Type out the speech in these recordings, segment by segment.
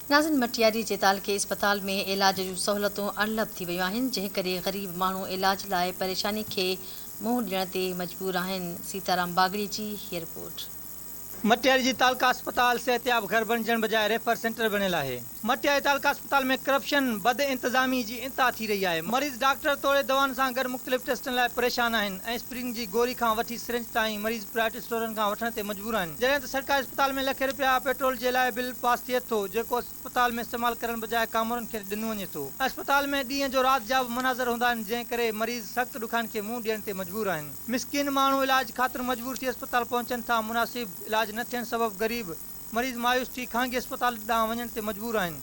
ناظم مٽياري جي تعلقي اسپتال ۾ علاج جون سهولتون اڻلڀ ٿي ويون آهن، جنهن ڪري غريب ماڻهو علاج لاء پريشاني کي منهن ڏيڻ تي مجبور آهن، سيتارام باگڙي جي هي رپورٽ. مٽياري جي تعلقه اسپتال صحتياب گهر بڻجڻ بجاء ريفر سينٽر بڻيل آهي، مٽياري تعلقه اسپتال ۾ ڪرپشن، بد انتظامي جي انتها ٿي رهي آهي، مريض ڊاڪٽر توڙي دوائن سان گڏ مختلف ٽيسٽن لاء پريشان آهن ۽ اسپرين جي گوري کان وٺي سرنج تائين مريض پرائيوٽ اسٽورن کان وٺڻ تي مجبور آهن جڏهن ته سرڪاري اسپتال ۾ لکين رپيا پيٽرول جي لاء بل پاس ٿئي ٿو جيڪو اسپتال ۾ استعمال ڪرڻ بجاء ڪامورن کي ڏنو وڃي ٿو اسپتال ۾ ڏينهن جو رات جا به مناظر هوندا آهن جنهن ڪري مريض سخت ڏکائن کي منهن ڏيڻ تي مجبور آهن مسڪين ماڻهو علاج خاطر مجبور ٿي اسپتال پهچن ٿا مناسب علاج نه ٿيڻ سبب غريب مريض مايوس ٿي خانگي اسپتال ڏانهن وڃڻ تي مجبور آهن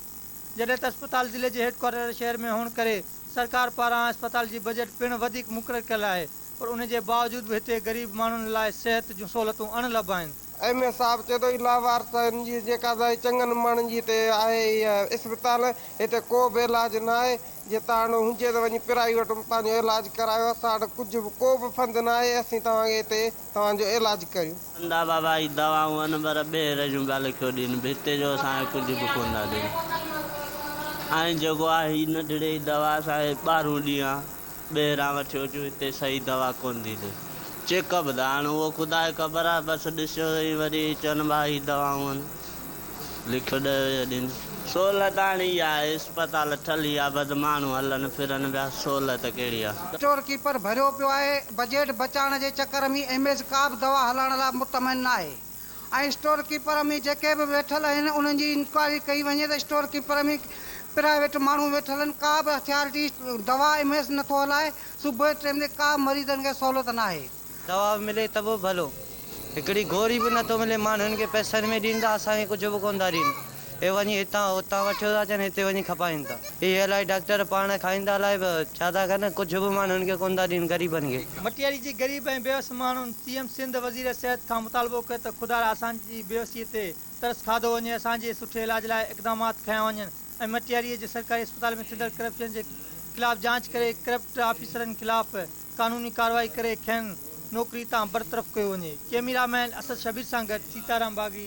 جڏهن ته اسپتال ضلعي جي هيڊ ڪوارٽر شهر ۾ هئڻ ڪري سرڪار پاران اسپتال جي بجيٽ پڻ وڌيڪ مقرر ڪيل آهي پر ان جي باوجود به هتي غريب ماڻهن لاء صحت جون سهولتون اڻ لڀ آهن. ايم اي صاحب چئي ٿو هي لاوارثن جي جيڪا دائي چڱن ماڻهن جي هتي آهي اها اسپتال هتي ڪو به علاج نه آهي جي تاڻو هجي ته وڃي پرائيوٽ ۾ پنهنجو علاج ڪرايو اسان وٽ ڪجهه به ڪو به فند نه آهي اسين توهان کي هتي توهان جو علاج ڪريون. اندا بابا هي دوائون ان بر ٻيهر جون ڳالهه ڪيو ڏين به هتي جو اسان کي ڪجهه به ڪونه ٿا ڏين ۽ جيڪو آهي هي نڍڙي دوا اسان کي ٻاهرون ڏيان ٻهران وٺيو اچون هتي صحيح دوا ڪونه ٿي ٿئي چيڪ اپ ته هاڻ اهو خدا کي خبر آهي بس ڏسيو ۽ وري چون ڀا هي دوائون هن لکيو ڏهه ويهه ڏينهن سهولت هاڻ اها آهي اسپتال ٺلهي ويا بس ماڻهو هلن ڦرن پيا سهولت ڪهڙي آهي. اسٽور ڪيپر ڀريو پيو آهي، بجيٽ بچائڻ جي چڪر ۾ ايم ايس ڪا به دوا هلائڻ لاء مطمئن ناهي. ۽ اسٽور ڪيپر ۾ جيڪي به ويٺل آهن انهن جي انڪوائري ڪئي وڃي ته اسٽور ڪيپر ۾ پرائيويٽ ماڻهو ويٺل آهن ڪا به اٿارٽي دوا ايم ايس نٿو هلائي صبح جي ٽيم تي ڪا به مريضن کي سهولت ناهي. دوا به ملي ته به ڀلو هڪڙي گوري به نٿو ملي ماڻهن کي پئسن ۾ ڏين ته اسان کي ڪجهه به ڪونه ٿا ڏين. اهي وڃي هتان هتان وٺيو ٿا اچن هتي وڃي کپائين ٿا اهي الائي ڊاڪٽر پاڻ کائيندا الائي به ڇا ٿا ڪن ڪجهه به ماڻهن کي ڪونه ٿا ڏين غريبن کي. مٽياري جي غريب ۽ بيوس ماڻهن سي ايم سنڌ وزير صحت کان مطالبو ڪيو ته خدارا اسان جي بيوسي تي ترس کاڌو وڃي اسان جي سٺي علاج لاء اقدامات کنيا وڃن ۽ مٽياري جي سرڪاري اسپتال ۾ ٿيندڙ ڪرپشن جي خلاف جاچ ڪري ڪرپٽ آفيسرن خلاف قانوني ڪارروائي ڪري کين نوڪري تان برطرف ڪيو وڃي ڪيميرا مين اسد شبير سان گڏ سيتارام باغي